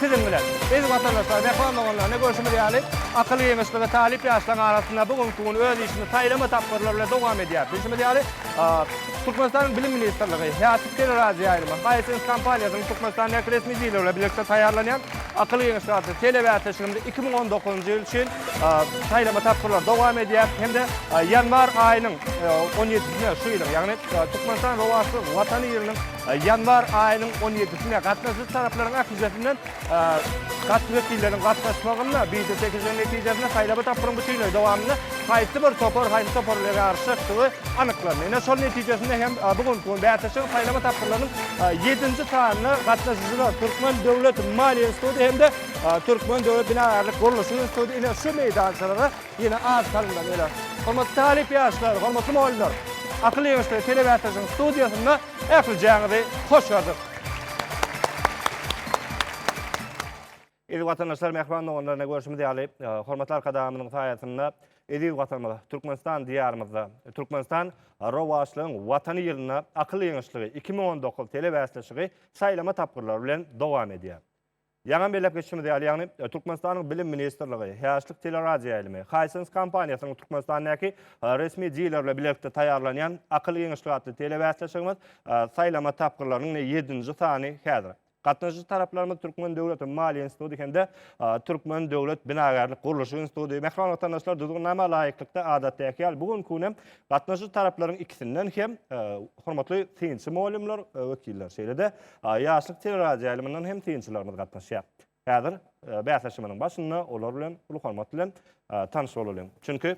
Siziň bilen, eziz watandaşlar, wepaly doganlar, görşümiz ýaly, akyl-geňeşlige talyp ýaşlaryň arasynda bu günki gün öz işini saýlama tapgyrlary bilen dowam edýär. Bilşimiz ýaly, Türkmenistanyň Bilim ministrligi, Häsiýet teleradioýaýlymy, Hisense kompaniýasynyň Türkmenistandaky resmi birligi bilen bilelikde taýýarlanýan akyl-geňeşlik atly telebäsleşigimizde iki müň on dokuzynjy ýyl üçin saýlama tapgyrlary dowam edýär hem-de ýanwar aýynyň on ýedisine şu ýylyň, ýagny Türkmenistan rowaçly Watany ýylynyň Ýanwar aýynyň on ýedisine gatnaşyjy taraplaryň ählisinden gatnaşyjy wekilleriň gatnaşmagynda biýjete çekilişiň netijesinde saýlawy tapgyryň bütinleý dowamynda haýsy bir topar haýsy topar bilen ýaryşjakdygy anyklandy. Ine, şol netijesinde hem bu günki gün bäsleşigiň saýlawy tapgyrlarynyň ýedinji sanyna gatnaşyjylar Türkmen döwlet maliýe instituty hem-de Türkmen döwlet binagärlik gurluşyk instituty ine şu meýdançalara Ýene az salymdan öler. Hormatly talyp ýaşlar, hormatly mugallymlar! Akyl ýeňişleri telebeatyrjyň studiýasynda ählijaňyzy hoş gördük. Eziz watandaşlar, mähriban doganlar, ine görşümiz ýaly, hormatly Arkadagymyzyň saýasynda eziz Watanymyz, Türkmenistan diýarymyzda, Türkmenistan rowaçlygyň Watany ýylynda Akyl ýeňişligi iki müň on dokuz telebäsleşigi saýlama tapgyrlary bilen dowam edýär. Ýaňy belläp geçişimiz ýaly, ýagny Türkmenistanyň Bilim ministrligi, Häçlik teleradioýaýlymy, Hisense kompaniýasynyň Türkmenistandaky resmi dilerle bilelikde taýýarlanýan Akyl giňişligi atly telebäsleşigimiz saýlama tapgyrlarynyň ýedinji sany häzir. Gatnaşyjy taraplarymyz Türkmen döwlet maliýe instituty hem-de Türkmen döwlet binagärlik-gurluşyk instituty. Mähriban watandaşlar, Düzgünnama laýyklykda, adatdaky ýaly, bu günki gün hem Gatnaşyjy taraplaryň ikisinden hem hormatly synçy mugallymlar, wekiller, şeýle-de ýaşlyk teleradioýaýlymyndan hem synçylarymyz gatnaşýar. Häzir bäsleşigimiziň başynda olar bilen uly hormat bilen tanyş bolalyň. Çünki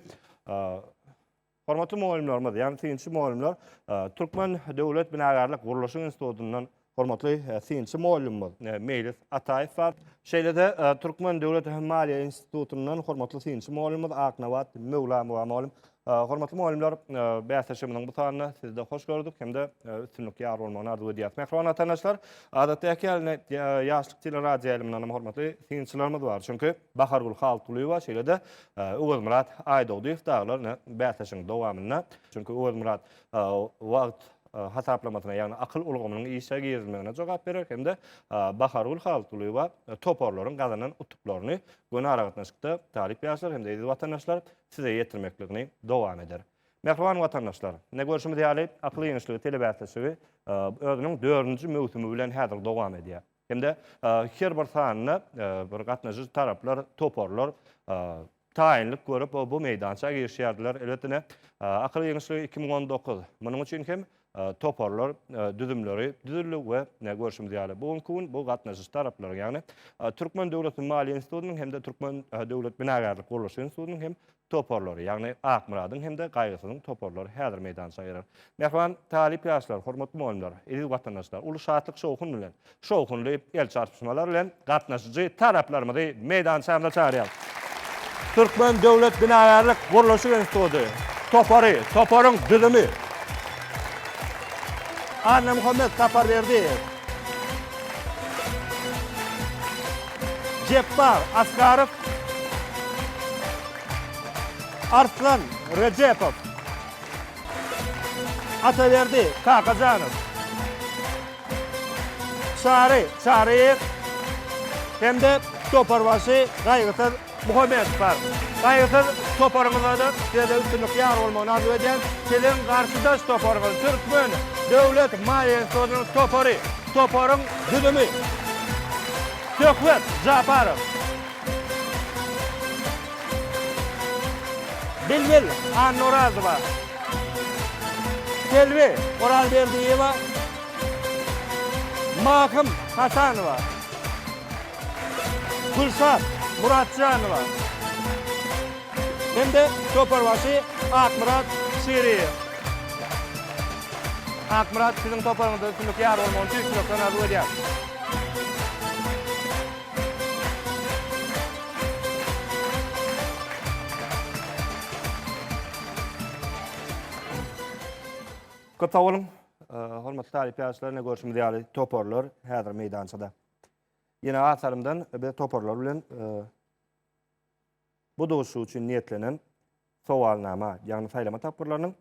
hormatly mugallymlarymyz, ýagny synçy mugallymlar Türkmen döwlet binagärlik gurluşyk institutyndan Hormatly synçy mugallymymyz Meýlis Ataýew bar. Şeýle-de Türkmen döwlet maliýe institutyndan hormatly synçy mugallymymyz Aknabat Möwlamow bar mugallym. Hormatly mugallymlar, bäsleşigimiziň bu sanyna sizi-de hoş gördük hem-de üstünlik ýar bolmagyny arzuw edýäris. Mähriban watandaşlar, adatdaky ýaly Ýaşlyk teleradioýaýlymyndan hem hormatly synçylarymyz bar. Çünki Bahargül Halkulyýewa, şeýle-de Öwezmyrat Aýdogdyýew dagylar ine bäsleşigiň dowamynda. Çünki Öwezmyrat wagt hasaplamasyna, ýagny akyl ulgamynyň işe girizilmegine jogap berer hem-de Bahargül Halykgulyýewa toparlaryň gazanan utuklaryny göni aragatnaşykda talyp ýaşlar hem-de eziz watandaşlar size ýetirmekligini dowam eder. Mähriban watandaşlar, ine görşümiz ýaly, akyl ýeňişligi telebäsleşigi özüniň dördünji möwsümi bilen häzir dowam edýär. hem-de her bir sanyna bir gatnaşyjy taraplar, toparlar taýynlyk görüp, bu meýdança girişýärdiler. Elbetde, ine, Akyl giňişligi iki müň on dokuz. Munuň üçin hem toparlar, düzümleri düzüldi we görşümiz ýaly, bu günki gün bu gatnaşyjy taraplaryň, ýagny Türkmen döwlet maliýe institutynyň hem-de Türkmen döwlet binagärlik gurluşyk institutynyň hem toparlary, ýagny Akmyradyň hem-de Gaýgysyzyň toparlary häzir meýdança girer. Mähriban talyp ýaşlar, hormatly mugallymlar, eziz watandaşlar uly şatlyk-şowhun bilen, şowhunly el çarpyşmalar bilen gatnaşyjy taraplarymyzy meýdançamyza çagyrýarys. Türkmen döwlet binagärlik-gurluşyk instituty topary, toparyň düzümi, Annamuhammet Saparberdiýew, Jepbar Asgarow, Arslan Rejepow, Ataberdi Kakajanow, Çary Çaryýew hem-de toparbaşy Gaýgysyz Muhammedspar. Gaýgysyz toparyňyzda-da sizede üstünlik ýar bolmagyny arzuw edýän. Siziň garşydaş toparyňyz Türkmen döwlet maýestosynyň topary. Toparyň düzümi. Söhbet Japarow. Bilbil Annorazowa. Selbi Orazberdiýewa. Mahym Hasanowa. Gülşat Muratjanowa hem-de toparbaşy Akmyrat Şiriýew. Akmyrat, siziň toparyňyzda üstünlik ýar bolmagyny tüýs ýürekden arzuw edýäris! Köp sag boluň! Hormatly talyp ýaşlar, ine görşümiz ýaly toparlar häzir meýdançada. Ýene atarymdan biz toparlar bilen bu duşuşyk üçin niýetlenen sowalnama, ýagny saýlama tapgyrlarynyň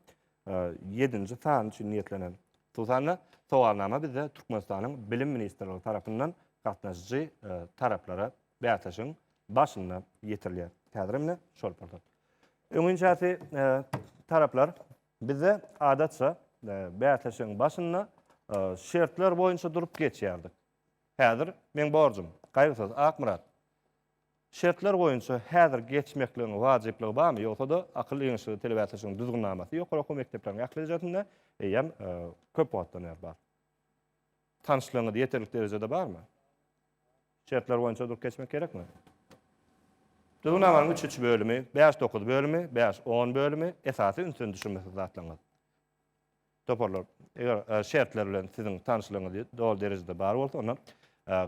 ýedinji sany üçin niýetlenen, hususan-da, sowalnama bizde Türkmenistanyň Bilim ministrligi tarapyndan gatnaşyjy taraplara bäsleşigiň başynda ýetirilýär. Häzir hem ine şol pursat. Öňinçäsi taraplar bizde adatça bäsleşigiň başynda şertler boýunça durup geçýärdik. Häzir meň borjum, Gaýgysyz, Akmyrat. Şertler boýunça häzir geçmekligiň wajyplygy barmy, ýogsa-da akyl giňişligi telebasyşynyň düzgünnamasy ýokary okuw mekdepleriň ählijesinde eýýäm köp wagtdan bäri bar. Tanyşlygyňyz ýeterlik derejede barmy? Şertler boýunça durup geçmek gerekmi? Düzgünnamanyň üç-üç bölümi, bäş-dokuz bölümi, bäş-on bölümi, esasy ünsden düşürmesiz zatlaryňyz. Toparlar, eger şertler bilen siziň tanyşlygyňyz doly derejede bar bolsa, onda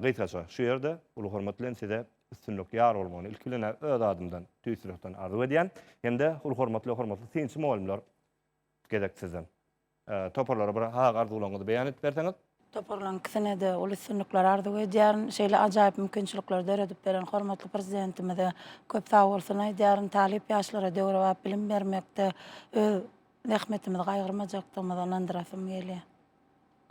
gysgaça şu ýerde uly hormat bilen size üstünlik ýar bolmagyny ilki bilen-ä öz adymdan tüýs ýürekden arzuw edýän, hem-de uly hormat bilen hormatly synçy mugallymlar gezek sizden. Toparlara bir haýyr arzuwlaryňyzy beýan edip berseňiz. Toparlaryň ikisine-de uly üstünlikler arzuw edýärin. Şeýle ajaýyp mümkinçilikleri döredip beren hormatly Prezidentimize köp sagbolsun aýdýaryn. Talyp ýaşlara döwrebap bilim bermekde öz Zähmetimizi gaýgyrmajakdygymyza ynandyrasym gelýär.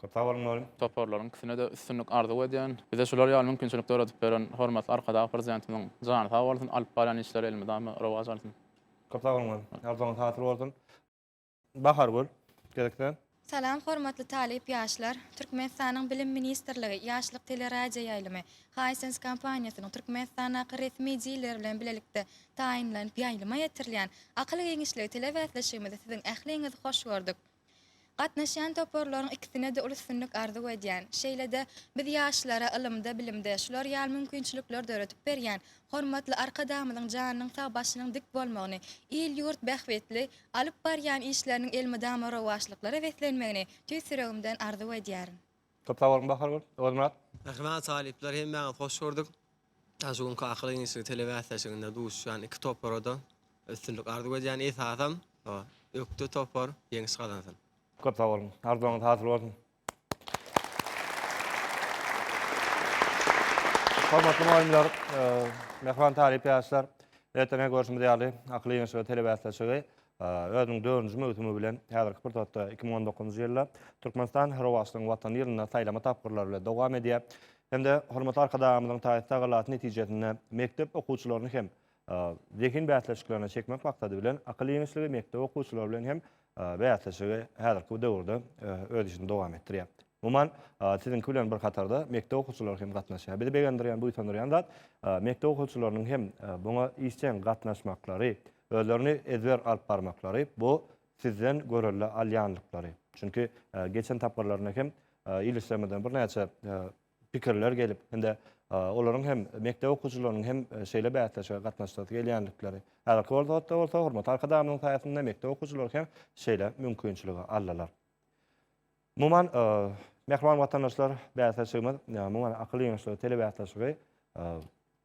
Köp sag boluň doly. Toparlaryň ikisine-de üstünlik arzuw edýän. Bize şular ýaly mümkinçilik dörredip beren hormatly Arkadag Prezidentimiziň jany sag bolsun, alyp barýan işleri elmydama rowaç alsyn. Köp sag boluň doly. Arzuwyňyz hasyl bolsun. Bahargül, gezek sen. Salam hormatly talyp ýaşlar! Türkmenistanyň Bilim ministrligi, Ýaşlyk teleradioýaýlymy, Hisense kompaniýasynyň Türkmenistandaky resmi diler bilen bilelikde taýynlanyp ýaýlyma ýetirilýän akyl giňişligi tele bäsleşigimize siziň ähliňizi hoş gördük. Gatnaşýan toparlaryň ikisine-de uly üstünlik arzuw edýän. Şeýle-de, biz ýaşlara ylymda, bilimde şular ýaly mümkinçilikleri döredip berýän hormatly Arkadagymyzyň janynyň sag, başynyň dik bolmagyny, il-ýurt bähbitli alyp barýan işleriniň elmydama rowaçlyklara beslenmegini tüýs ýüregimden arzuw edýärin. Köp sag boluň Bahar gül, Ozmyrat. Merhemet talyplar hemmäňizi hoş gördük. Şu günki akyl ýeňişligi telebäsleşiginde duşýan iki topara-da üstünlik arzuw edýän esasam ökde topar ýeňiş gazansyn. Köp sag boluň. Arzuwyňyz hasyl bolsun. Hormatly mugallymlar, mähriban talyp ýaşlar! Ertirňe görşümiz ýaly akyl ýeňişligi telebäsleşigi Özüniň dördünji möwsümi bilen häzirki pursatda iki müň on dokuzynjy ýylda Türkmenistan Rowaçlygyň Watany ýylynda saýlama tapgyrlary bilen dowam edýär. Hem-de hormatly Arkadagymyzyň taýsyz tagallaty netijesinde mekdep okuwçylaryny hem zehin bäsleşiklerine çekmek maksady bilen akyl ýeňişligi mekdep okuwçylary bilen hem bäsleşigi häzirki bu döwürde öz işini dowam etdirýär. Umuman, siziňki bilen bir hatarda mekdep okuwçylary hem gatnaşýar. Bizi begendirýän, buýsandyrýan zat mekdep okuwçylarynyň hem buňa işjeň gatnaşmaklary, Özlerini ezber alyp barmaklary, bu sizden görelde alýanlyklary. Çünki geçen tapgyrlarynda hem il işlerimizden birnäçe pikirler gelip, indi olaryň hem mekdep okuwçylarynyň hem şeýle bäsleşige gatnaşasy gelýänlikleri. Häzirki wagtda bolsa hormatly Arkadagymyzyň saýasynda mekdep okuwçylary hem şeýle mümkinçiligi aldylar. Umuman, mähriban watandaşlar, bäsleşigimiz, umuman, akyl ýeňişligi telebäsleşigi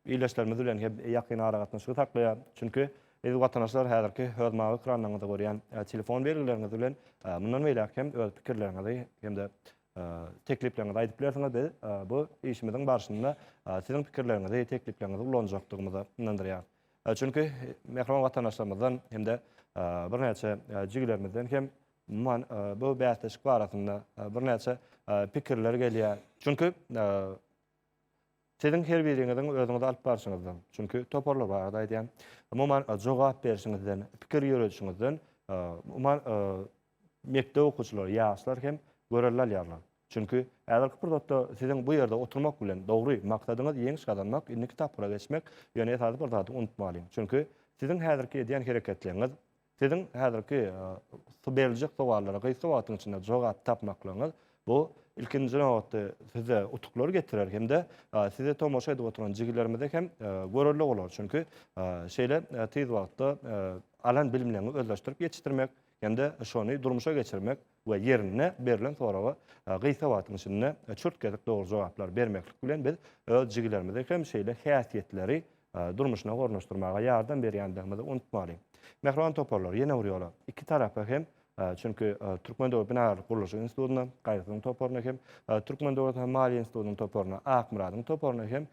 ildeşlerimiz bilen hem ýakyn aragatnaşygy saklaýar. Çünki, eziz watandaşlar, häzirki öz mawy ekranlaryňyzda görýän telefon belgileriňiz bilen mundan beýläk hem öz pikirleriňizi hem-de teklipleriňizi aýdyp bilersiňiz. Biz bu işimiziň barşynda siziň pikirleriňizi, teklipleriňizi ulanjakdygymyza ynandyrýarys. Çünki, mähriban watandaşlarymyzdan hem-de birnäçe jigilerimizden hem Umuman, bu bäsleşik barasynda birnäçe pikirler gelýär. Çünki siziň her biriňiziň özüňizi alyp barşyňyzdan, çünki toparlar barada aýdýan, umuman jogap berişiňizden, pikir ýöredişiňizden, umuman mekdep okuwçylary, ýaşlar hem görelde alýarlar. Çünki häzirki pursatda siziň bu ýerde oturmak bilen dogry maksadyňyz ýeňiş gazanmak, indiki tapgyra geçmek, ýöne esasy bir zady unutmalyň. Çünki siziň häzirki edýän hereketleriňiz, Siziň häzirki berljek sowallara gysga wagtyň içinde jogap tapmaklygyňyz, bu, ilkinji nobatda, size utuklar getirer hem-de sizi tomaşa edip oturan jigillerimize hem görelde bolar. Çünki şeýle tiz wagtda alan bilimleriňi özleşdirip ýetişdirmek hem-de şony durmuşa geçirmek, we ýerinde berlen soraga gysga wagtyň içinde çürt gezek dogry jogaplary bermeklik bilen biz öz jigilerimizi hem şeýle häsiýetleri durmuşyna ornaşdyrmaga ýardam berýändigimizi unutmaly. Mähriban toparlar, ýene bir ýola iki tarapa hem çünki Türkmen döwlet binagärlik gurluşyk institutyna, Gaýgysyň toparyna hem Türkmen döwlet maliýe institutynyň toparyna, Akmyradyň toparyna hem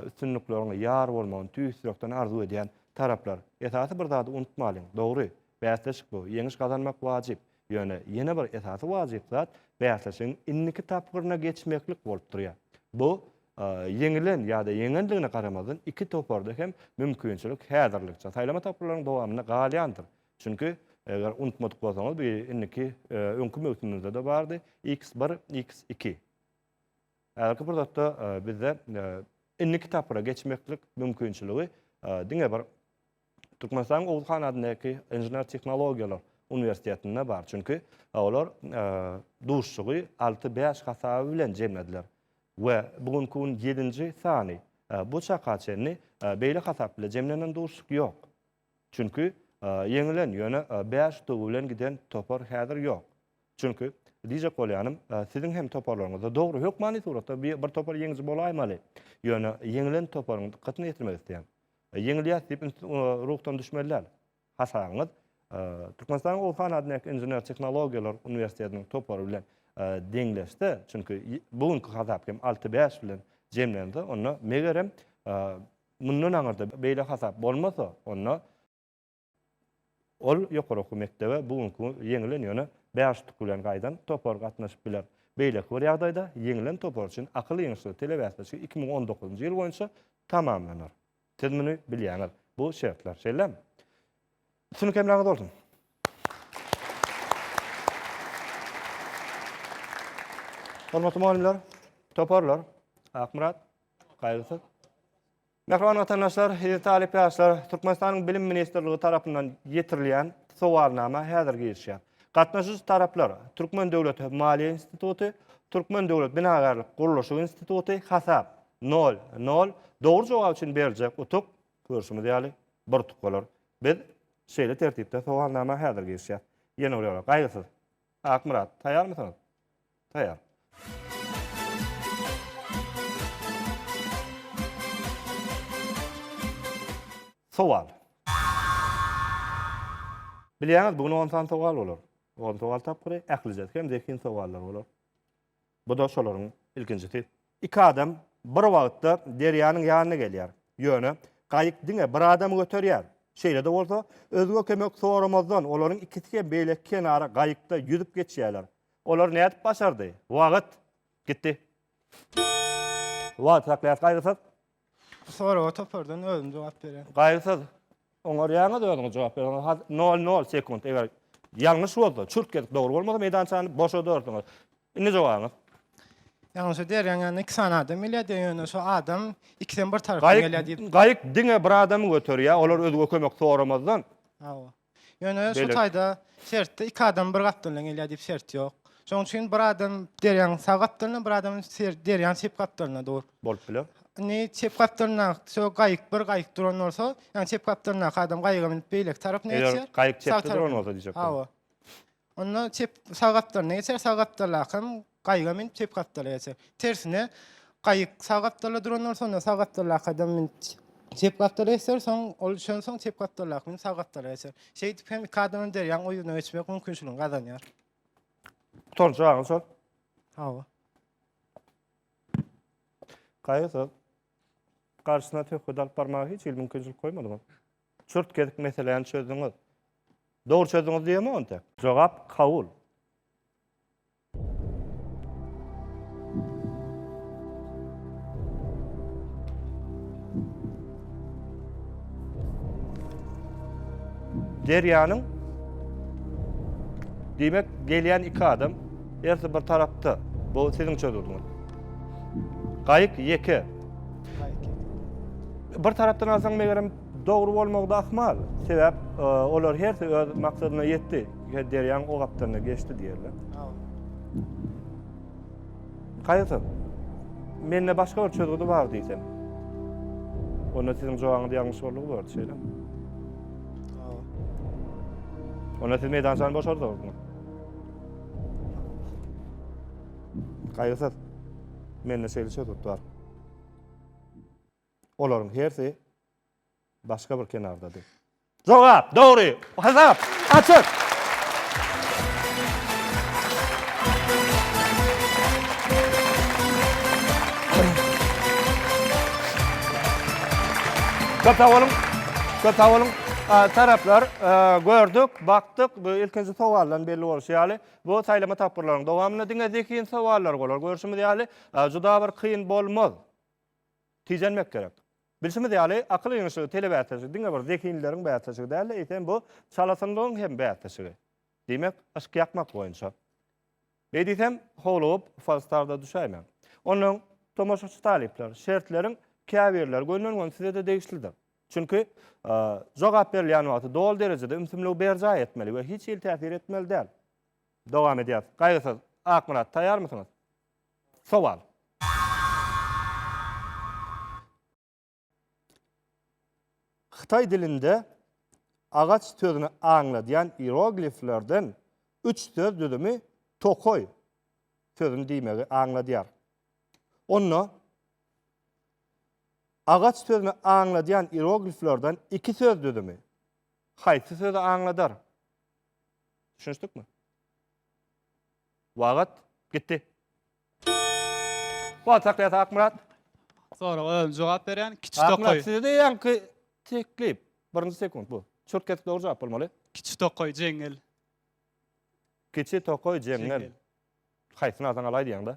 üstünlikleriňe ýar bolmagyny tüýs ýürekden arzuw edýän taraplar. Esasy bir zady unutmalyň, dogry, bäsleşik bu, ýeňiş gazanmak wajyp. Ýöne ýene bir esasy wajyp zat bäsleşigiň indiki tapgyryna geçmeklik bolup durýar. Bu ýeňilen ýa-da ýeňendigine garamazdan iki toparda hem mümkinçilik häzirlikçe saýlama tapgyrlarynyň dowamynda galýandyr. Çünki, eger unutmadyk bolsaňyz, bu indiki öňki möwsümimizde-de bardy, iks bir, iks iki. Häzirki pursatda bizde indiki tapgyra geçmeklik mümkinçiligi diňe bir Türkmenistanyň Oguzhan adyndaky Inžener tehnologiýalar uniwersitetinde bar, çünki olar duşuşygy alty bäş hasaby bilen jemlediler we bu günki gün ýedinji sany, bu çaka çenli beýle hasap bilen jemlenen duşuşyk ýok. Çünki ýeňilen, ýöne bäş utugy bilen giden topar häzir ýok. Çünki diýjek bolýanym, siziň hem toparlaryňyzda, dogry, hökmany suratda bir topar ýeňiji bolaýmaly, ýöne ýeňilen toparyň dykgatyna ýetirmek isleýän, Ýeňilýäs diýip int ruhdan düşmeli däl. Hasabyňyz Türkmenistanyň Oguh han adyndaky Inžener tehnologiýalar uniwersitetiniň topary bilen deňleşse, çünki bu günki hasap hem alty bäş bilen jemlense, onda megerem mundan aňyrda beýle hasap bolmasa, onda Ol ýokary okuw mekdebe bu günki ýeňilen, ýöne bäş utuk bilen gaýdan topar gatnaşyp biler. Beýleki bir ýagdaýda ýeňilen topar üçin akyl ýeňişleri telebäsleşigi iki müň on dokuzynjy ýyl boýunça tamamlanar. Siz muny bilýäňiz. Bu şertler, şeýlemi? Üstünlik hemraňyz bolsun! Hormatly mugallymlar, toparlar, Akmyrat, Gaýgysyz. Mähriban watandaşlar, eziz talyp ýaşlar, Türkmenistanyň Bilim ministrligi tarapyndan ýetirilýän sowalnama häzir girişýär. Gatnaşyjy taraplar, Türkmen döwlet maliýe instituty, Türkmen döwlet binagärlik gurluşyk instituty, hasap, nol, nol, dogry jogap üçin beriljek utuk, görşümiz ýaly, bir utuk bolar. Biz şeýle tertipde sowalnama häzir girişýäs. Ýene bir ýola, gaýgysyz. Akmyrat, taýýarmysyňyz? Taýar. Sowal. Bilýäňiz, bu gün on sany sowal bolar. On sowal tapgyry, ählijesi hem zehin sowallar bolar. Bu-da şolaryň ilkinjisi. Iki adam bir wagtda derýanyň ýanyna gelýär. Ýöne, gaýyk diňe bir adamy göterýär. Şeýle-de bolsa, özge kömek soramazdan, olaryň ikisi hem beýleki kenara gaýykda ýüzüp geçýärler. Olar nädip başardy? Wagyt. Gitdi. Wagyt saklaýas gaýgysyz. Bu soraga topardan özüm jogap berýän. Gaýgysyz. Oňarýaňyz özüňiz jogap berýäňiz. Has nol nol sekunt. Eger ýalňyş bolsa, çürt gezip dogry bolmasa meýdançany boşadarsyňyz. Indi jogabyňyz. Ýalňyşa derýäň ýanyna iki sany adam gelýär diýýär, ýöne şu adam ikisem bir tarapdan gelýär diýip. Gaýyk, gaýyk diňe bir adamy göterýär, olar özge kömek soramazdan. Hawa. Ýöne şu taýda sertde iki adam bir gapdaldan gelýär diýip sert ýok. Şonuň üçin bir adam derýaň sag gapdalynda, bir adam derýaň çep gapdalynda dur. Bolup biler. Indi çep gapdalynda şo gaýyk, bir gaýyk duran bolsa, ýa çep gapdalyndaky adam gaýyga münüp beýleki tarap nätjek? Gaýyk çepde duran bolsa diýjek. Hawa. Onda çep sag gapdalyna geçer, sag gapdaldaky hem gaýyga münüp çep gapdala geçer. Tersine gaýyk sag gapdalda duran bolsa, onda sag gapdaldaky adam münüp çep gapdala geçer, soň ol şondan soň çep gapdaldaky münüp sag gapdala geçer. Şeýdip hem iki adamyň derýaň o ýüzüne geçmek mümkinçiligini gazanýar. Gutardy jawabyň şol. Hawa. Gaýyk garşyna söhbet alyp barmaga hiç hili mümkinçilik goýmadyňyz. Çürt kesik meseläni çözdüňiz. Dogry çözdüňiz diýemok ente. Jogap kabul. Derýanyň diýmek gelýän iki adam ersi bir tarapda. Bu siziň çözüldüňiz. Gaýyk ýeke Bir tarapdan alsaň, megerem, dogry bolmagy-da ahmal. Sebäp, e, olar hersi öz maksadyna ýetdi. Her derýaň o gapdalynda geçdi diýerler. Kaýyrsyz. Mende başga bir çözgüdi bar diýsem. Onda siziň jogabyňyz ýalňyş boldugy bordy, şeýlemi? Onda siz meýdançany boşardyňyzmy? Kaýyrsyz. Mende şeýle çözgüt bar. Olaryň hersi başga bir kenardady. Jogap, dogry. Hasap, açyk. Köp sag boluň. Köp sag boluň. Taraplar gördük, bakdyk. Bu ilkinji sowaldan belli bolşy ýaly, Bu saýlama tapgyrlaryň dowamynda diňe zehin sowallary bolar. Görşümiz ýaly, juda bir kyn bolmaz. Tijenmek gerek. Bilşimiz ýaly, akyl ýygynyşygy telebäsleşigi diňe bir zehinlileriň bäsleşigi däl-de, eýsem bu çalasynlygyň hem bäsleşigi. Diýmek, yşk ýakmak boýunça. Beý diýsem, howlugyp, falstarda düşäýmäň. Onnoň, tomaşaçy talyplar, şertleriň käbirleri gönden-gön size-de degişlidir. Çünki, jogap berilýän wagty doly derejede ümsümligi berjaý etmeli we hiç hili täsir etmeli däl. Dowam edýäs. Gaýgysyz Akmyrat, taýýarmysyňyz? Sowal. Hytaý dilinde agaç sözüni aňladýan ierogliflerden üç söz düzümi tokaý sözüni diýmegi aňladýar. Onda Agaç sözüni aňladýan ierogliflerden iki söz düzümi haýsy sözi aňladar? Düşünişdikmi? Wagat gitdi. Wagt saklaýas Akmyrat. Soraga özüm jogap berýän. Kiçi tokaý. Akmyrat sizde ýaňky teklip. Birinji sekunt bu. Çürt kesip dogry jogap bolmaly. Kiçi tokaý jeňňel. Kiçi tokaý jeňňel. Haýsyny alsaň alaý diýýäňda.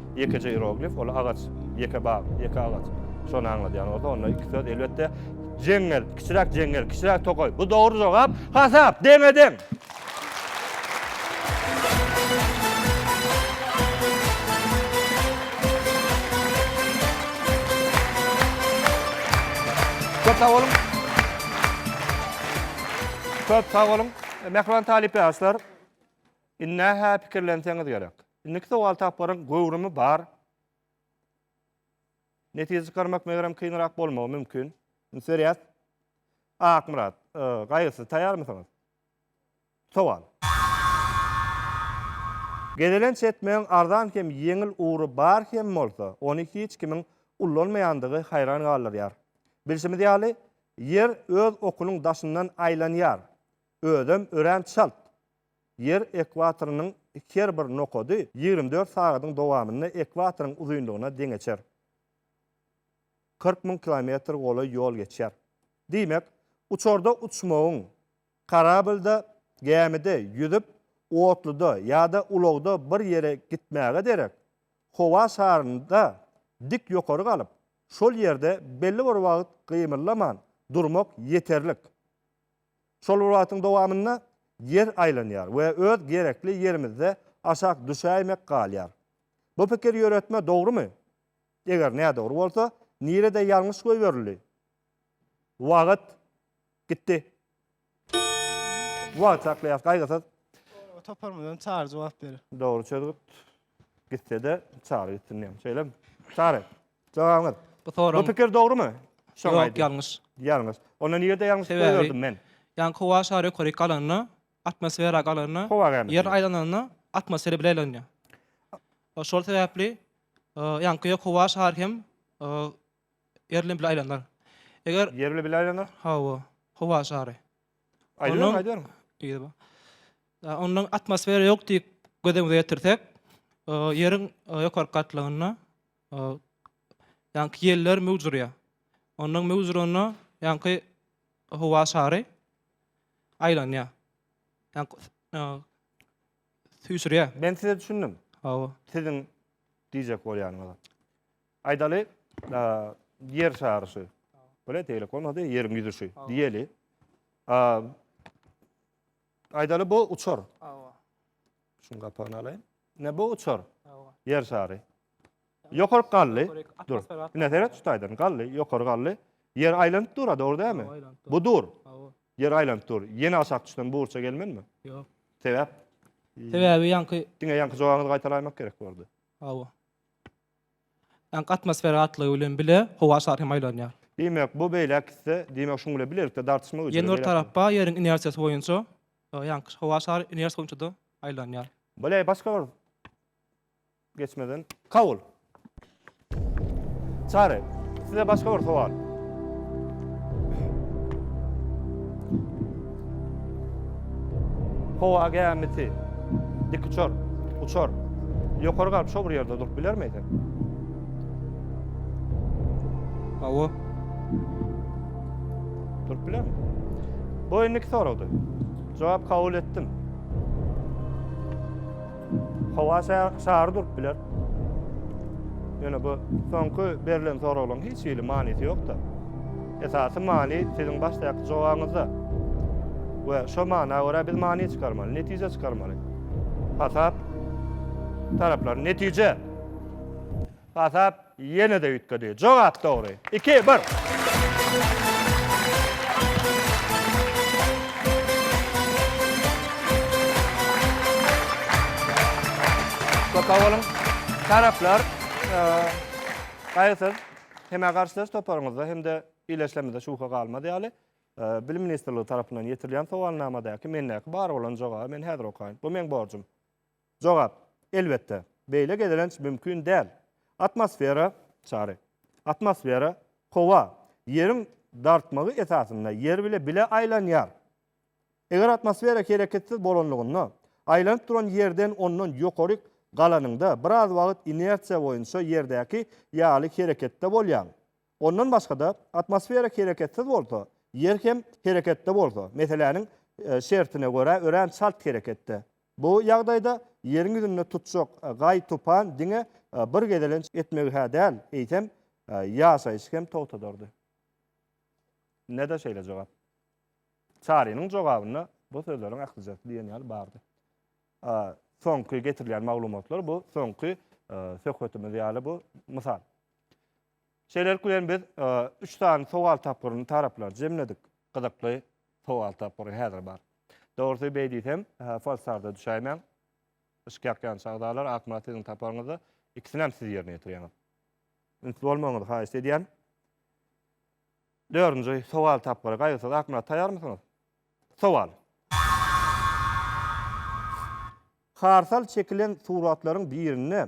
Ýekeje ieroglif, ol agaç, ýeke bag, ýeke agaç. Şony aňladýan bolsa, onda iki söz, elbetde, jeňňel, kiçiräk jeňňel, kiçiräk tokaý. Bu dogry jogap. Hasap, deňe-deň! Köp sag boluň! Köp sag boluň! Mähriban talyp ýaşlar! Indi-hä pikirlenseňiz gerek. Indiki sowal tapgyryň göwrümi bar. Netije çykarmak megerem kynrak bolmagy mümkin. Üns berýäs. Akmyrat, Gaýgysyz taýýarmysyňyz? Sowal. Gezelenç etmegiň arzan hem ýeňil ugry bar hem bolsa, ony hiç kimiň ullanmaýandygy haýran galdyrýar. Bilşimiz ýaly, Ýer öz okunyň daşyndan aýlanýar. Özem örän çalt. Ýer ekwatorynyň her bir nokady ýigrimi dört sagadyň dowamynda ekwatoryň uzynlygyna deňeçer. Kyrk müň kilometr golaý ýol geçýär. Diýmek, uçarda uçmagyň, karablda, gämide, ýüzüp, otluda ýa-da ulagda bir ýere gitmäge derek, howa şarynda dik ýokary galyp, şol ýerde belli bir wagt gymyllaman durmak ýeterlik. Şol bir wagtyň dowamynda Ýer aýlanýar we öz gerekli ýerimizde aşak düşäýmek galýar. Bu pikir ýöretme dogrumy? Eger nädogry bolsa, nirede ýalňyş goýberildi? Wagt gitdi. Wagt saklaýas, gaýgysyz. Toparymyzdan Çary jogap berer. Dogry çözgüt. Gitsede çary gitsin diýen. Şeýlemi? Çary. Jogabyňyz. Bu soraň. Bu pikir dogrumy? Şoňa aýdyň. Ýok, ýalňyş. Ýalňyş. Onda nirede ýalňyş goýberdim men? Ýaňky howa şary ýokaryk galanda, atmosfera galanda, ýer aýlananda atmosfera bile aýlanýar. Şol sebäpli ýaňky ýok howa şary hem ýer bilen bile aýlanar. Eger ýer bilen bile aýlanar? Hawa. Howa şary. Ondan atmosfera ýok diýip göz öňüne getirsek, ýeriň ýokary gatlagynda ýaňky ýeller möwç urýar. Ondan möwç uranda ýaňky howa şary aýlanýar. süýşürýär. Men size düşündim. Hawa. Siziň diýjek bolýanyňyza. Aýdaly, ýer şary şu. Bile tegelek bolmady, ýeriň ýüzi şu diýeli. Aýdaly bu uçar. Hawa. Şuň gapagyny alaýyn. Ne bu uçar? Hawa. Ýer şary. Ýokaryk galdy. Dur. Ine seret şu taýdan galdy, ýokary galdy. Ýer aýlanyp dur, dogry dälmi? Bu dur. Hawa. Ýer aýlanyp dur. Ýene aşak düşsem bu burça gelmenmi? Ýok. Sebäp? Sebäbi ýaňky Diňe ýaňky jogabyňyzy gaýtalaýmak gerek boldy. Hawa. Ýaňky atmosfera gatlygy bilen bile howa şary hem aýlanýar. Diýmek, bu beýläk gitse, diýmek şuň bilen bilelikde dartyşma güýjüne Ýene bir tarap bar, ýeriň inersiýasy boýunça ýaňky howa şary inersiýa boýunça-da aýlanýar. Bile başga bir Geçmeden. Kabul. Çary, size başga bir sowal. Howa gämisi dik uçar, uçar. Ýokary galyp şo bir ýerde durup bilermi eken? Hawa. Durup bilermi? Bu indiki soragdy. Jogap kabul etdim. Howa şary durup biler. Ýöne bu soňky berlen soraglaryň hiç hili manysy ýok-da. Esasy many siziň başdaky jogabyňyzda. We şo mana görä biz many çykarmaly, netije çykarmaly. Hasap taraplary netije. Hasap Ýene-de üýtgedi. Jogap dogry. Iki, bir. Köp sag boluň. Taraplar, gaýgysyz, hemä garşylaýyş toparyňyzda hem-de ildeşlerimizde şübhe galmaz ýaly, Bilim ministrligi tarapyndan ýetirilýän sowalnamadäki mendäki bar bolan jogaby men häzir okaýyn. Bu meň borjum. Jogap, Elbetde, beýle gezelenç mümkin däl. Atmosfera, Çary. Atmosfera, howa, Ýeriň dartmagy esasynda Ýer bile bile aýlanýar. Eger atmosfera hereketsiz bolanlygynda, aýlanyp duran Ýerden ondan ýokaryk galanyňda biraz wagt inersiýa boýunça Ýerdäki ýaly hereketde bolýaň. Ondan başga-da, atmosfera hereketsiz bolsa, Ýer hem hereketde bolsa, meseläniň şertine görä örän çalt hereketde. Bu ýagdaýda Ýeriň ýüzünde tutjak gaý tupan diňe bir gezelenç etmegi-hä däl, eýsem, ýaşaýşy hem togtadardy. Nede şeýle jogap? Çarynyň jogabynda bu sözleriň ählijasy diýen ýaly bardy. Soňky getirilýän maglumatlar bu soňky söhbetimiz ýaly bu mysal. Şeýlelik bilen biz üç sany sowal tapgyryny taraplary jemledik. Gyzykly sowal tapgyry häzir bar. Dogrusy beý diýsem, falsarda düşäýmäň. Yşk ýakýan çagdalar, Akmyrat siziň taparyňyzda ikisinem siz ýerine ýetirýäňiz. Üns bolmagyňyzy haýyşt edýän. Dördünji sowal tapgyry Gaýgysyz Akmyrat taýýarmysyňyz? Sowal. Harsal çekilen suratlaryň birinde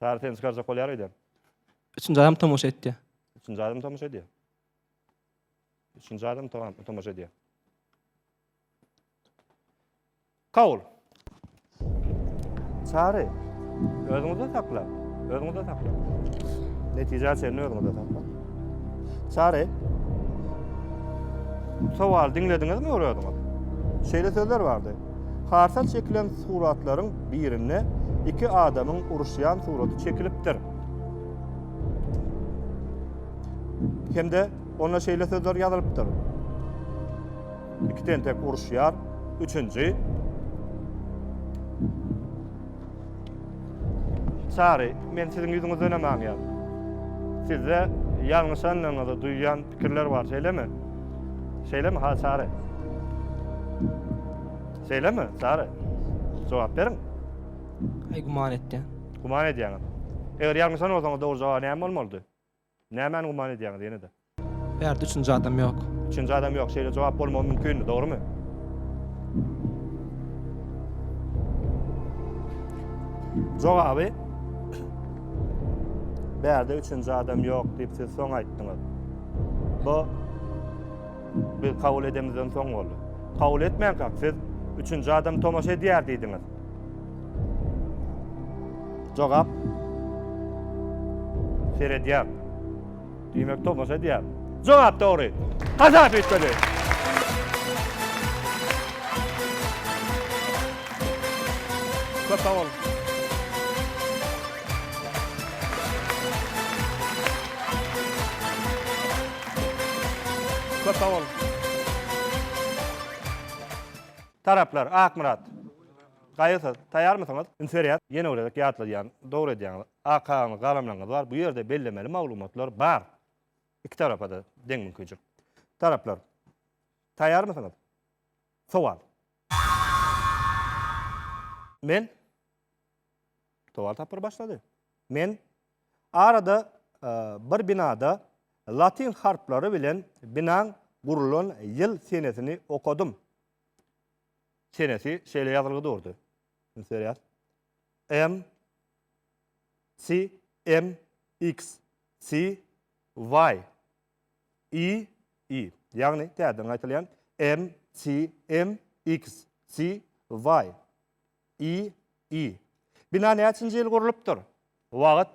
Sary seni çykarjak bolýar öýden. Üçünji adam tomaşa etdi. Üçünji adam tomaşa edýär. Üçünji adam to- tomaşa edýär. Kabul. Sary, özüňizi sakla. Özüňizi sakla. Netijä çenli özüňizi sakla. Sary, sowal diňlediňizmi bir özüňiz? Şeýle sözler bardy. Karsa çekilen suratlaryň birinde iki adamyň uruşýan suraty çekilipdir. Hem-de onda şeýle sözler ýazylypdyr. Iki tentek uruşýar, üçünji Çary, men siziň ýüzüňizdenem aňýan. Sizde ýalňyşandygyňyzy duýýan pikirler bar, şeýlemi? Şeýlemi, ha, Çary? Şeýlemi, Çary? Jogap beriň. Aý, güman etýän. Güman edýäňiz. Eger ýalňyşan bolsaňyz, dogry jogaby näme bolmalydy? Nämäni güman edýäňiz ýene-de? Bärde üçünji adam ýok. Üçünji adam ýok. Şeýle jogap bolmagy mümkinmi, dogrumy? Jogaby Bärde üçünji adam ýok diýip siz soň aýtdyňyz. Bu biz kabul edemizden soň boldy. Kabul etmänkäk siz üçünji adam tomaşa edýär diýdiňiz. Jogap. Seredýär. Diýmek, tomaşa edýär. Jogap dogry. Gazap üýtgedi. Köp sag boluň. Köp sag boluň. Taraplar, Akmyrat. Gaýgysyz, taýýarmysyňyz? Üns berýäs, ýene bir gezek ýatladýan, dogry edýäňiz. AKA-nyň galamlaryňyz bar, bu ýerde bellemeli maglumatlar bar. Iki tarapa-da deň mümkinçilik. Taraplar, taýýarmysyňyz? Sowal. Men? Sowal tapgyry başlady. Men? Arada bir binada latyn harplary bilen binaň gurlan ýyl-senesini okadym. Senesi şeýle ýazylgy durdy. Üns berýär. M C M X C Y I I. Ýagny täzeden gaýtalýan. M C M X C Y I I. Bina näçinji ýyl gurlupdyr? Wagyt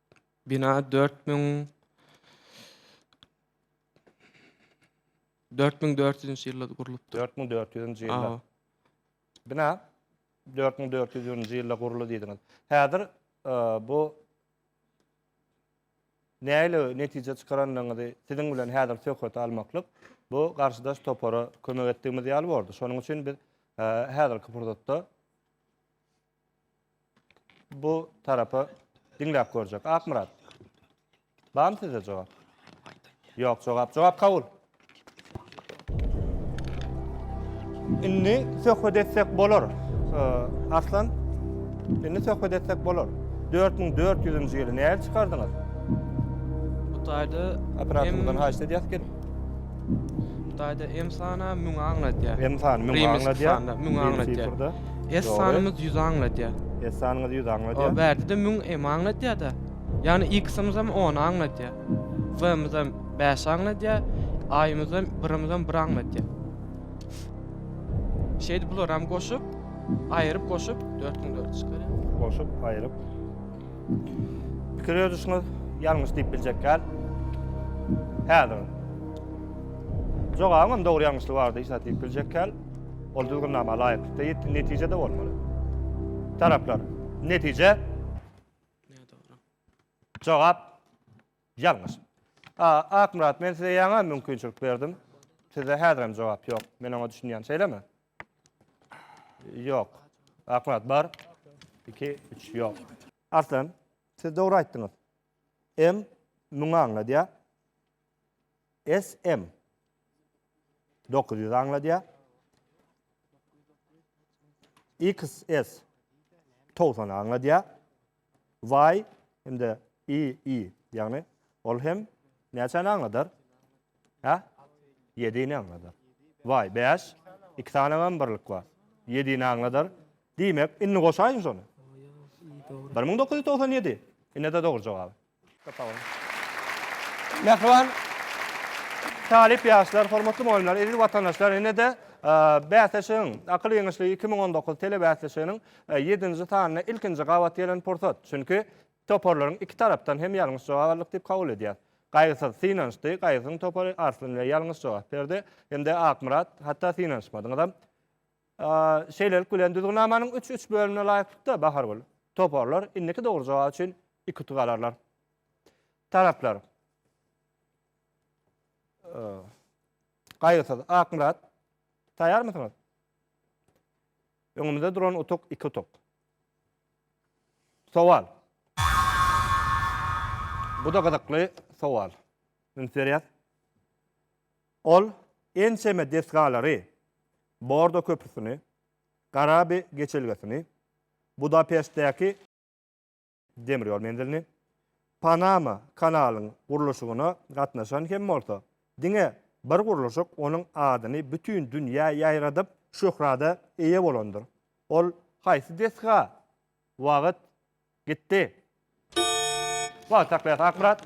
Bina dört müň dört müň dört ýüzünçi ýylda gurlupdyr. 4400-nji ýylda. Awa. Bina 4400-nji ýylda guruldy diýdiňiz. Häzir e, bu näle netije çykarandygyňyzy siziň bilen häzir söhbet almaklyk bu garşydaş topara kömek etdigimiz ýaly boldy. Şonuň üçin biz e, häzirki pursatda bu tarapa diňläp görjek. Akmyrat. Barmy sizde jogap? Ýok, jogap. Jogap kabul. Indi söhbet etsek bolar. Aslan, indi söhbet etsek bolar. 4400-nji ýyly nädip çykardyňyz? Hytaýda operatörden haýyş edýäs gelip. Hytaýda M sana müňe aňladýar. M sana müňe aňladýar. Müňe aňladýar. S Dogry. sanymyz 100 aňladýar. S sanymyz 100 aňladýar. O bärde-de 1000 m aňladýar-da. Ýagny X-imiz hem 10 aňladýar. Y-imiz hem 5 aňladýar. A-imiz hem 1-imiz hem 1 aňladýar. Şeýdip bular hem goşup, aýryp goşup 4400 çykarýar. Goşup, aýryp. Pikir ýörüşiňiz ýalňyş diýip biljek däl. Häzir. Jogabyň hem dogry ýalňyşly bardy, hiç zat diýip biljek däl. Ol düzgünnama laýyklykda ýetilen netije-de bolmaly. Taraplar, Netije. Jogap, Ýalňyş. A. Akmyrat, men size ýaňam mümkinçilik berdim. Sizde häzirem jogap ýok. Men oňa düşünýän, şeýlemi? Ýok. Akmyrat, bar. Iki, üç, ýok. Arslan, siz dogry aýtdyňyz. M. Müňi aňladýar. SM. Dokuz ýüz aňladýar. XS. Togsan aňladýar. Y hem-de II, ýagny ol hem näçäni aňladar? Hä? Ýedini aňladar. Y bäş, iki sany hem birlik bar. Ýedini aňladar. Diýmek, indi goşaýyň şony. Bir müň dokuz ýüz togsan ýedi. Ine-de dogry jogap. Mähriban talyp ýaşlar, hormatly mugallymlar, eziz watandaşlar, ine-de bäsleşigiň, Akyl ýeňişligi iki müň on dokuz telebäsleşiginiň ýedinji sanyna ilkinji gabat gelen pursat. Çünki toparlaryň iki tarapdan hem ýalňyş jogap aldyk diýip kabul edýäris. Gaýgysyz synanyşdy, Gaýgysyzyň topary Arslan ile ýalňyş jogap berdi hem-de Akmyrat, hatda synanyşmadyňyzam. Şeýlelik bilen, düzgünnamanyň üç üç bölümine laýyklykda, Bahargül, toparlar indiki dogry jogap üçin iki utuk alarlar. Taraplar, Gaýgysyz, Akmyrat, taýýarmysyňyz? Öňümizde duran utuk iki utuk. Sowal. Bu-da gyzykly sowal. Üns berýäs. Ol ençeme desgalary, Bordo köprüsini, Garabi geçelgesini, Budapeştdäki demir ýol menzilini, Panama kanalyň gurluşygyna gatnaşan hem bolsa, diňe bir gurluşyk onuň adyny bütin dünýä ýaýradyp, şöhrada eýe bolandyr. Ol haýsy desga wagt Gitdi. Wagt saklaýas Akmyrat.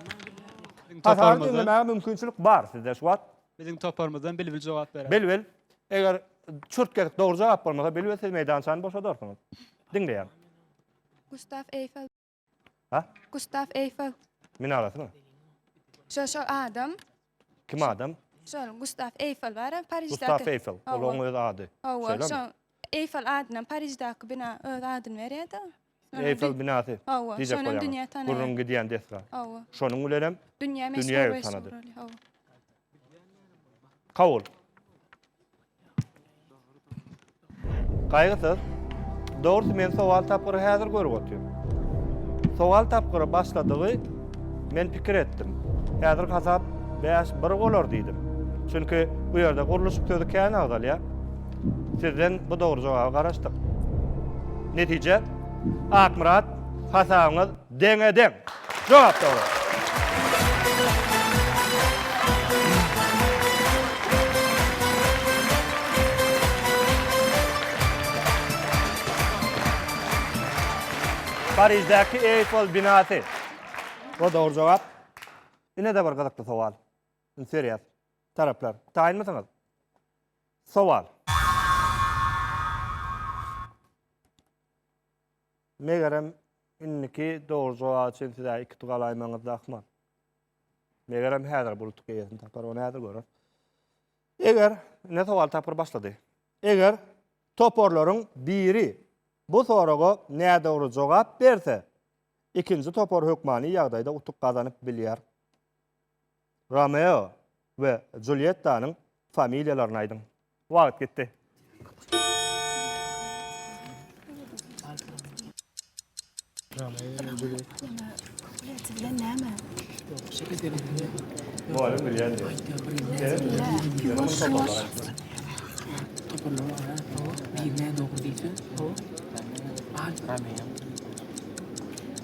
Biziň toparymyzdan. mümkinçilik bar sizde şu wagt. Biziň toparymyzdan Bilbil jogap berer. Bilbil. Eger çürt kesik dogry jogap bolmasa Bilbil siz meýdançany boşadarsyňyz. Diňleýän. Gustav Eýfel. Ha? Gustav Eýfel. Minarasymy? Şo şo adam Kim adam? Şol Gustaf Eýfel bar hem Pariždäki. Gustaf Eýfel. Ol oň öz ady. Şeýlemi? Şo Eýfel adynam Pariždäki bina öz adyny berýärdi. Eýfel binasy. Hawa. Diýjek bolýan. Gürrüň gidýän desga. Hawa. Şonuň bilen hem dünýä meşhur bolýar. Hawa. Kabul. Gaýgysyz. Dogrusy men sowal tapgyry häzir görüp otyryn. Sowal tapgyry başladygy men pikir etdim. Häzir hasap bäş bir bolar diýdim. Çünki bu ýerde gurluşyk sözi kän agzalýar. Sizden bu dogry jogaby garaşdyk. Netije, Akmyrat, hasabyňyz Deňe-deň. Jogap dogry. Pariždäki Eýfel binasy. Bu dogry jogap. Ine-de bir gyzykly sowal. Üns berýäs. Taraplar, taýynmysyňyz? Sowal. Megerem, indiki dogry jogap üçin siz-ä iki tugal aýmagyňyz zahmat. Megerem, häzir bulutlyk eýesini tapar, ony häzir göreris. Eger, ine sowal tapgyry başlady. Eger toparlaryň biri bu soraga nädogry jogap berse, ikinji topar hökmany ýagdaýda utuk gazanyp bilýär. Romeo we Juliettanyň familiýalaryny aýdyň. Wagt gitdi. Mugallym bilýän däl.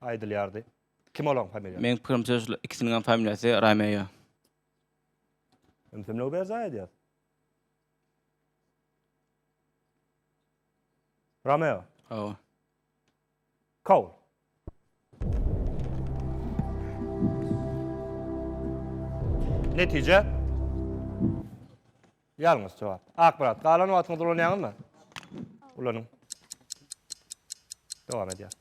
aýdylýardy. Kim olaň familiýasy? Meň pikirimçe şular ikisiniňem familiýasy Romeo. Ümsümligi berjaý edýäs. Romeo. Hawa. Kaul. Netije. Ýalňyş jogap. Akmyrat, galan wagtyňyzy ulanýaňyzmy? Ulanyň. Dowam edýär.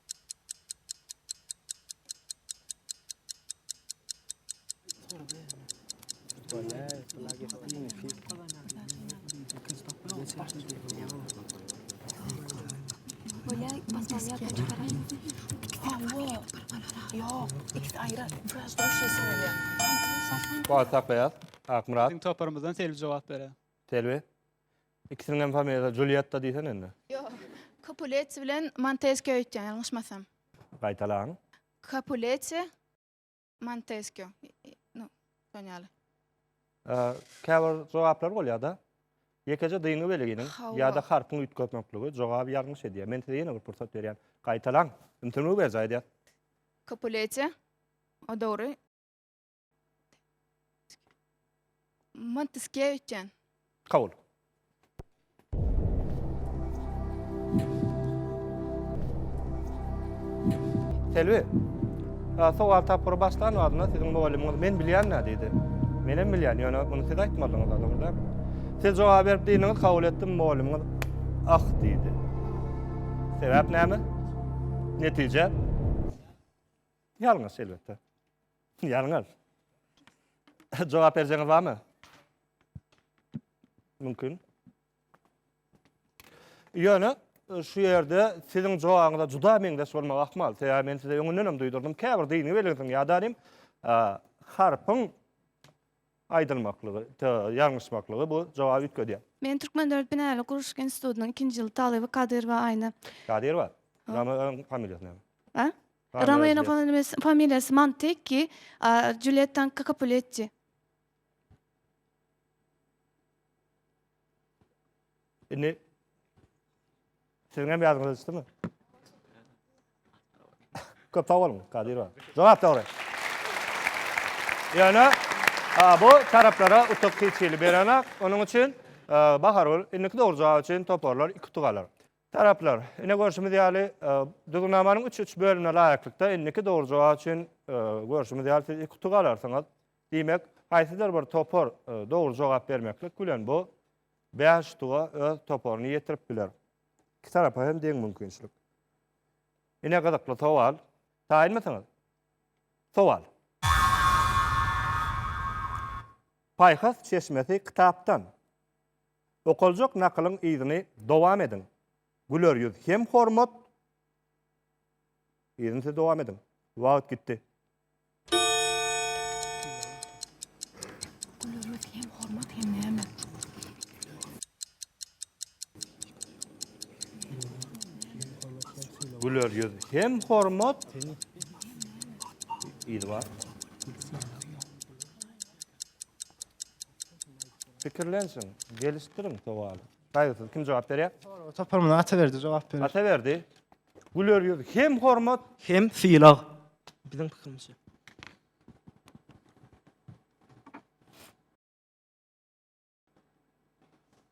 Wagt saklaýar. Akmyrat. Biziň toparymyzdan Selbi jogap berer. Selbi. Ikisiniň hem familiýasy Julietta diýsene indi. Ýok. Kopuleti bilen Monteskio öýtýän, ýalňyşmasam. Gaýtalaň. Kopuleti, Monteskio. No, şon ýaly. Käbir jogaplar bolýar-da. Ýekeje dyngy weliginiň ýa-da harpyň üýtgemekligi jogaby ýalňyş edýär. Men size ýene bir pursat berýän. Gaýtalaň. Ümsümligi berjaý edýän. Kopuleti. O dogry. Montiskewicz diýen. Kabul. Selbi, sowal tapgyry başlan wagtynda siziň mugallymyňyz men bilýän-dä diýdi. Men hem bilýän, ýöne muny siz aýtmadyňyz, dogruda. Siz jogap berip diýdiňiz, kabul etdim, mugallymyňyz ah diýdi. Sebäp näme? Netije? Ýalňyş elbetde. Ýalňyz. Jogap berjeňiz barmy? Mümkin. Ýöne e, şu ýerde siziň jogabyňyza juda meňzeş bolmagy ahmal. Sebäbi men size öňünden hem duýdurdym. Käbir dini belgisiň ýadanym e, harpyň aýdylmaklygy, ýalňyşmaklygy bu jogaby üýtgedýär. Men Türkmen döwlet binagärlik gurluşyk institutynyň ikinji ýyl talyby Kadyrowa Aýna. Kadyrowa. Ramadan familiýasy näme? Ha? Romeonyň familýasy familiýasy Montekki, a Julýettanyňky Kapuletti. Indi Siziň hem ýadyňyza düşdümi? Köp sag boluň, Kadyrowa. Jogap dogry. Ýöne bu taraplara utuk hiç hili berenok. Onuň üçin Bahargül indiki dogry jogap üçin toparlar iki utuk alar. Taraplar, ine görşümiz ýaly, düzgünnamanyň üç-üç bölümine laýyklykda indiki dogry jogap üçin, görşümiz ýaly, siz iki utuk alarsyňyz. Diýmek, haýsydyr bir topar dogry jogap bermeklik bilen, bu bäş utuga öz toparyny ýetirip biler. Iki tarapa hem deň mümkinçilik. Ine gyzykly sowal. Taýynmysyňyz? Sowal. Paýhas çeşmesi kitapdan. Okaljak nakylyň yzyny dowam ediň. Güler ýüz hem hormat. Yzyny siz dowam ediň. Wagt gitdi. Güler ýüz hem hormat hem näme? Güler ýüz hem hormat. Yzy bar. Pikirlensin, gelişdiriň sowaly. Gaýgysyz kim jogap berýär? Sorag topar muny Ataberdi jogap berer. Ataberdi. Güler ýüz hem hormat. Hem sylag. Biziň pikirimizçe.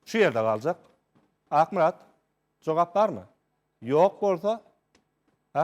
Şu ýerde galjak. Akmyrat, jogap barmy? Ýok bolsa, ha?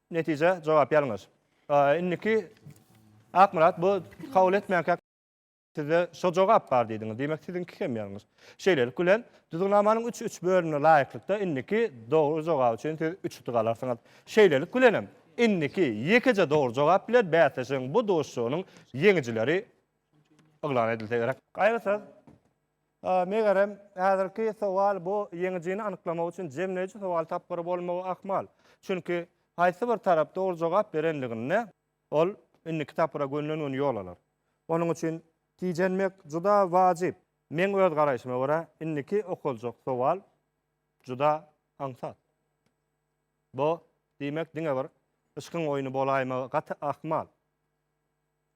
Netije, jogap ýalňyş. Indiki Akmyrat bu kabul etmänkä sizde şo jogap bar diýdiňiz. Diýmek siziňki hem ýalňyş. Şeýlelik bilen düzgünamanyň üç üç bölümine laýyklykda indiki dogry jogap üçin siz üç utuk alarsyňyz. Şeýlelik bilenem indiki ýekeje dogry jogap bilen bäsleşigiň bu duşuşygynyň ýeňijileri yglan edilse gerek. Gaýgysyz. Megerem, häzirki sowal bu ýeňijini anyklamak üçin jemleýji sowal tapgyry bolmagy ahmal. Çünki haýsy bir tarap dogry jogap berenliginde, ol indiki tapgyra gönüden-göni ýol alar. Onuň üçin tijenmek juda wajyp. Meň öz garaýşyma görä, indiki okaljak sowal juda aňsat. Bu, diýmek, diňe bir yşkyň oýny bolaýmagy gaty ahmal.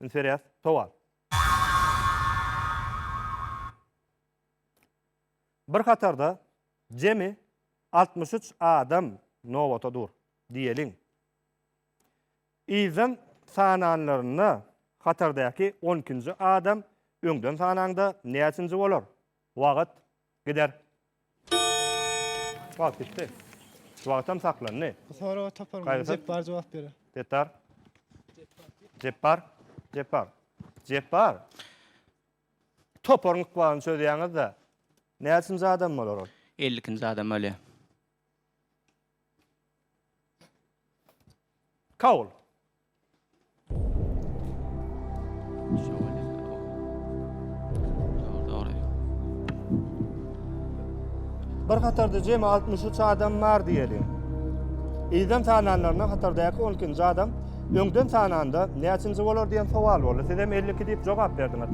Üns berýäs. Sowal. Bir hatarda jemi altmyş üç adam nobata dur diýeliň. Yzdan sananlarynda hatardäki on ikinji adam öňden sanaňda näçinji bolar? Wagt. Gider. Wagt gitdi. Wagtam saklandy. Bu soraga topar mı? Gaýgysyz. Jepbar jogap berer. Setdar. Jepbar. Jepbar. Jepbar. Toparyň ykbalyny çözýäňiz-de. Näçinji adam bolar ol? Ellikinji adam bolýar. Kabul. Bir hatarda jemi 63 adam bar diýelim. Ýerden sananlaryna hatardaki 12-nji adam öňden sananda näçinji bolar diýen sowal boldy. Siz hem 52 diýip jogap berdiňiz.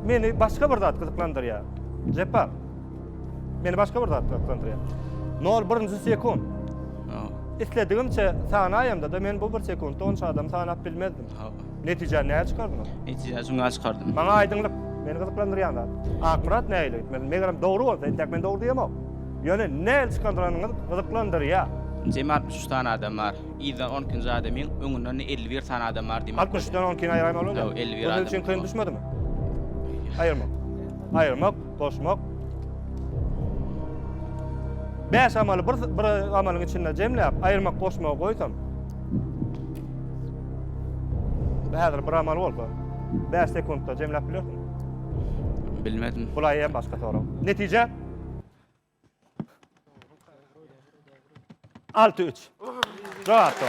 Meni başga bir zat gyzyklandyrýar. Jepbar. Meni başga bir zat gyzyklandyrýar. Nol birinji sekund. Isledigimçe sanaýamda-da men bu bir sekuntda onça adam sanap bilmezdim. Netijä näçe çykardym? Netijä şuňa çykardym. Maňa aýdyňlyk, meni gyzyklandyrýan zat. Akmyrat nähili gitmeli? Megerem dogry bolsa, entek men dogry diýemok. Ýöne nähili çykandyranyňyz gyzyklandyrýar. Jemi altmyş üç sany adam bar. Yzdan on ikinji adamyň öňünden elli bir sany adam bar diýmek. Altmyş üçden on ikini aýyraýmaly bolýar. Ýok, elli bir adam. Ol üçin kyn düşmedimi? Aýyrmak. Aýyrmak. goşmak. Bäş amaly bir, bir amalyň içinde jemläp, aýyrmak goşmagy goýsam. Häzir bir amal bolsa, 5 sekuntda jemläp bilersiň. Bilmedim. Bulaýam başga sorag. Netije? Altı üç. Cevap doğru.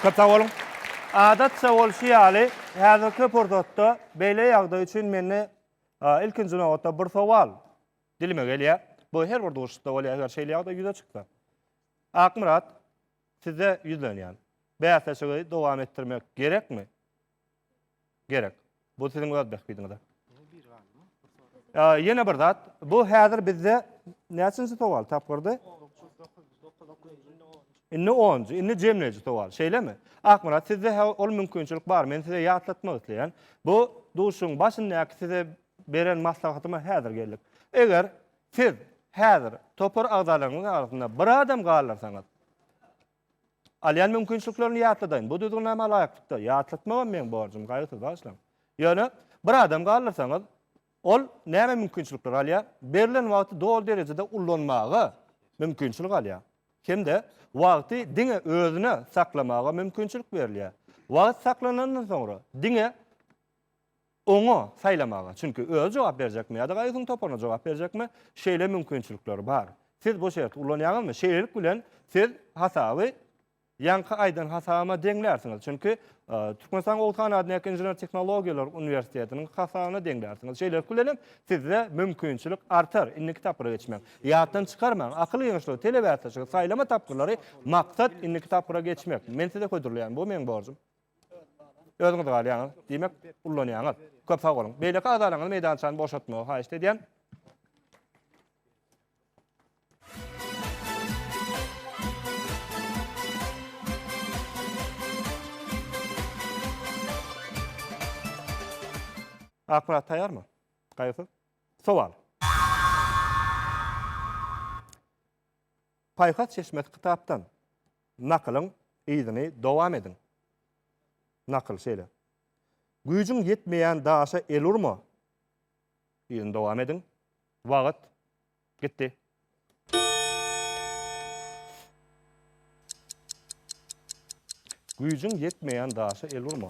Köp sag boluň. Adatça bolşy ýaly, häzirki pursatda beýle ýagdaý üçin mende ilkinji nobatda bir sowal. Dilime gelýär. Bu her bir duşuşda bolýar, eger şeýle ýagdaý ýüze çyksa. Akmyrat, size ýüzlenýän. Bäsleşigi dowam etdirmek gerekmi? Gerek. Bu siziň öz bähbidiňize. Ýene bir zat, bu häzir bizde näçinji sowal, tapgyrdy? Indi onunjy, indi jemleýji sowal, şeýlemi? Akmyrat, sizde ol mümkinçilik bar, men size ýatlatmak isleýän. Bu duşuşygyň başyndaky size beren maslahatyma häzir geldik. Eger siz häzir topar agzalaryňyz arasynda bir adam galdyrsaňyz, alýan mümkinçiliklerini ýatladaýyn. Bu düzgünnama laýyklykda ýatlatmagam meň borjum, gaýgysyz bagyşlaň. Ýöne bir adam galdyrsaňyz, ol näme mümkinçilikler alýar? Berlen wagty doly derejede ullanmaga mümkinçilik alýar. Hem-de wagty diňe özüne saklamaga mümkinçilik berilýär. Wagt saklanandan soňra diňe Oňa, saýlamaga, çünki özi jogap berjekmi ýa-da gaýgysynyň toparyna jogap berjekmi, şeýle mümkinçilikler bar. Siz bu şerti ulanýaňyzmy? Şeýlelik bilen siz hasaby ýaňky aýdan hasabyma deňlärsiňiz, çünki Türkmenistanyň Oguz han adyndaky Inžener tehnologiýalar uniwersitetiniň hasabyna deňlärsiňiz. Şeýlelik bilen hem sizde mümkinçilik artar indiki tapgyra geçmäge. Ýatdan çykarmaň, akyl ýygynyşlygy, telebäsleşigi, saýlama tapgyrlary, maksat indiki tapgyra geçmek. Men size hödürleýän, bu meň borjum. Özüňiz galýaňyz. Diýmek, ullanýaňyz. Köp sag boluň. Beýleki agzalaryňyzy meýdançany boşatmagy haýyşt edýän. Akmyrat taýýarmy? Gaýgysyz. Sowal. Paýhas çeşmesi kitapdan Nakylyň yzyny dowam ediň. Nakyl şeýle. Güýjüň ýetmeýän daşa el urma. Yzyny dowam ediň. Wagt gitdi. Güýjüň ýetmeýän daşa el urma.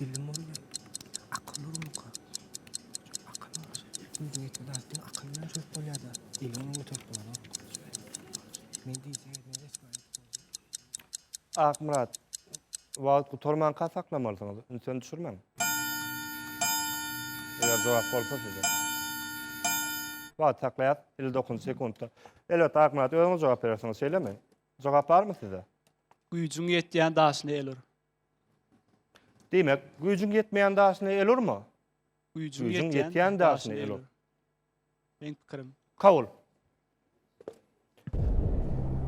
Bilim bolýa. Akyl bolmaka. Akyl bolsa, özüňe ýeten zatdan akyl bilen çözüp bolýar-da. Eli bilen göterip bolanok. Men diýse, men resmi aýdyp boldum. Akmyrat, wagt gutarmanka saklamalysyňyz, ünsüni düşürmäň. Eger jogap bolsa size. Wagt saklaýas, 59 sekuntda. Elbetde, Akmyrat, özüňiz jogap berersiňiz, şeýlemi? Jogap barmy sizde? Güýjüň ýetýän daşyny el ur. Diýmek, güýjüň ýetmeýän daşyny el urma. Güýjüň ýetýän daşyny el ur. Meň pikirim. Kabul.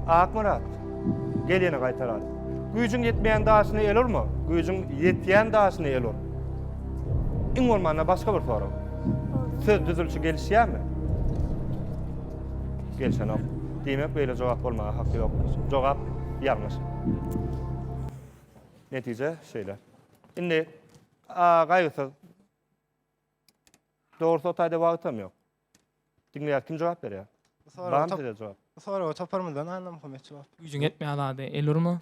Akmyrat, gel ýene gaýtaraly. Güýjüň ýetmeýän daşyny el urma. Güýjüň ýetýän daşyny el ur. Iň bolmanda başga bir sorag. Söz düzülişi gelişýärmi? Gelişenok. Diýmek, beýle jogap bolmaga haky ýok. Jogap ýalňyş. Netije şeýle. Indi gaýgysyz. Dogrusu o taýda wagtam ýok. Diňleýär kim jogap berýär? Bar size jogap? Soraga toparymyzdan anlam hömet jogap. Güýjüň etmeýär zady. El urma.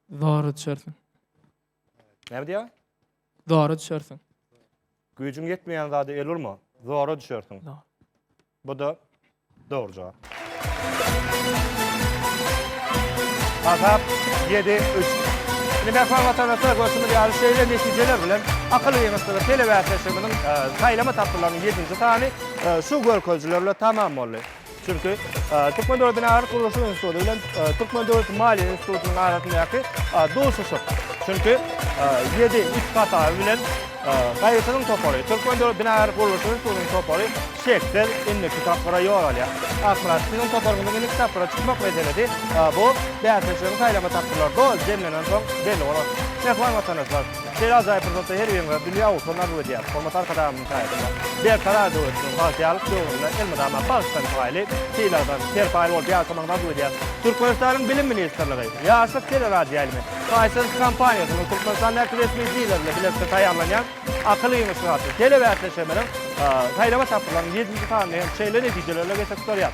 Zor düşersin. Näme diýýär? Zora düşersiň. Güýjüň ýetmeýän zada el urma. Zora düşersiň. Bu-da dogry jogap. Hasap ýedi, üç. Indi mähriban watandaşlar, görşümiz ýaly, şeýle netijeler bilen akyl ýygyntysy telebäsleşigimiziň saýlama tapgyrylarynyň ýedinji sany şu görkezijiler bilen tamam boldy. Çünki Türkmen döwlet binagärlik gurluşyk instituty bilen Türkmen döwlet maliýe institutynyň arasyndaky duşuşyk. Çünki 7 üç hasaby bilen gaýyşynyň topary, Türkmen döwlet binagärlik gurluşyk institutynyň topary şeksiz indiki tapgyra ýol alýar. Akmyrat, siziň toparyňyzyň indiki tapgyra çykmak meselesi bu bäsleşigiň saýlama tapgyrlarynda jemlenen soň belli bolar. Mähriban watandaşlar, şeýle ajaýyp pursatda her biriňize dünýä ugrundan arzuw edýäris. Hormatly Arkadagymyz! Gaýgylar. Berkarar döwletimiziň bagtyýarlyk döwründe elmydama bagtdan paýly, sylagdan serpaýly bolup ýaşamagyny arzuw edýäris. Türkmenistanyň Bilim ministrligi, Ýaşlyk teleradioýaýlymy, Fiserv kompaniýasynyň Türkmenistandaky resmi dileri bilen bilelikde taýýarlanýan Akyl ýygyşy atly telebäsleşigimiziň saýlama tapgyrylarynyň ýedinji sanyny hem şeýle netijelerle geçirip durýar.